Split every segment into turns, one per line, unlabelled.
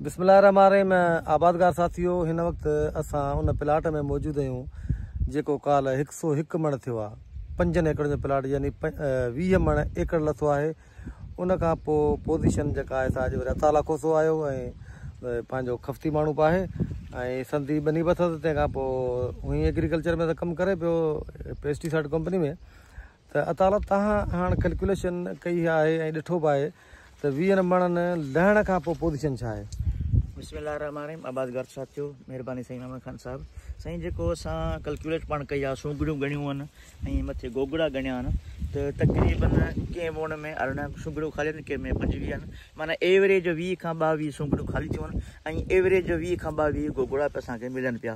بسم الله الرحمن الرحيم آبادگار ساٿيو هن وقت اسان ان پلاٽ ۾ موجود آهيون جيڪو ڪالهه هڪ سو هڪ مڻ ٿيو آهي پنجن ايڪڙن جو پلاٽ يعني ويهه مڻ ايڪڙ لٿو آهي ان کان پوء پوزيشن جيڪا آهي سا اڄ وري عطا لاکو سو آيو ۽ پنهنجو خفتي ماڻهو به آهي ۽ سندي ٻني به اٿس تنهن کان پوء هئي ايگريڪلچر ۾ ته ڪم ڪري پيو پيسٽيسائڊ ڪمپني ۾ ته اطالع تهان هاڻ ڪلڪيوليشن ڪئي آهي ۽ ڏٺو به آهي ته ويهن مڻن لهڻ کان پوء پوزيشن ڇا آهي. بسم الله الرحمٰن الرحيم
عباس گارچ صاحب ٿيو مهرباني سائين محمد خان صاحب سائين جيڪو اسان ڪلڪيوليٽ پاڻ ڪئي آ سوگهڙيون ڳڻيون آهن ۽ مٿي گوگڙا ڳڻيا آهن ته تقريبن ڪنهن ووڻ ۾ ارڙهن سوگهڙيون خالي آهن ڪنهن ۾ پنجويهه آهن معنيٰ ايوريج ويهه کان ٻاويهه سوگهڙيون خالي ٿيون آهن ۽ ايوريج ويهه کان ٻاويهه گوگڙا به اسان کي ملن پيا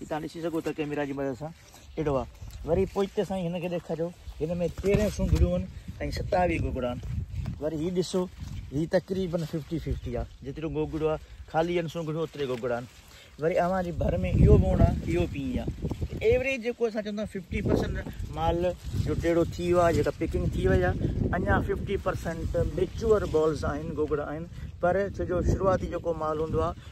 هي توهان ڏسي سگهو ٿا ڪيميرا جي مدد سان اهڙو آهي وري پوئتي سائين هن کي ڏيکاريو هن ۾ تيرهن سنگهڙيون آهن ۽ ستاويهه گوگڙا آهن وري هي ڏسو هي تقريبن ففٽي ففٽي آهي جيترو گوگڙو آهي خالي آهن سنگهڙيون اوتري گوگڙا آهن وري اوهان جي ڀر ۾ اهو موڙ آهي اهو پيئي آهي ته ايوریج جيڪو اسان چوندا ففٽي پرسنٽ مال جو ٽيڙو ٿي ويو آهي جيڪا پيڪنگ ٿي وئي آهي اڃا ففٽي پرسنٽ ميچور بالز آهن گوگڙا آهن پر ڇو جو شروعاتي جيڪو مال هوندو آهي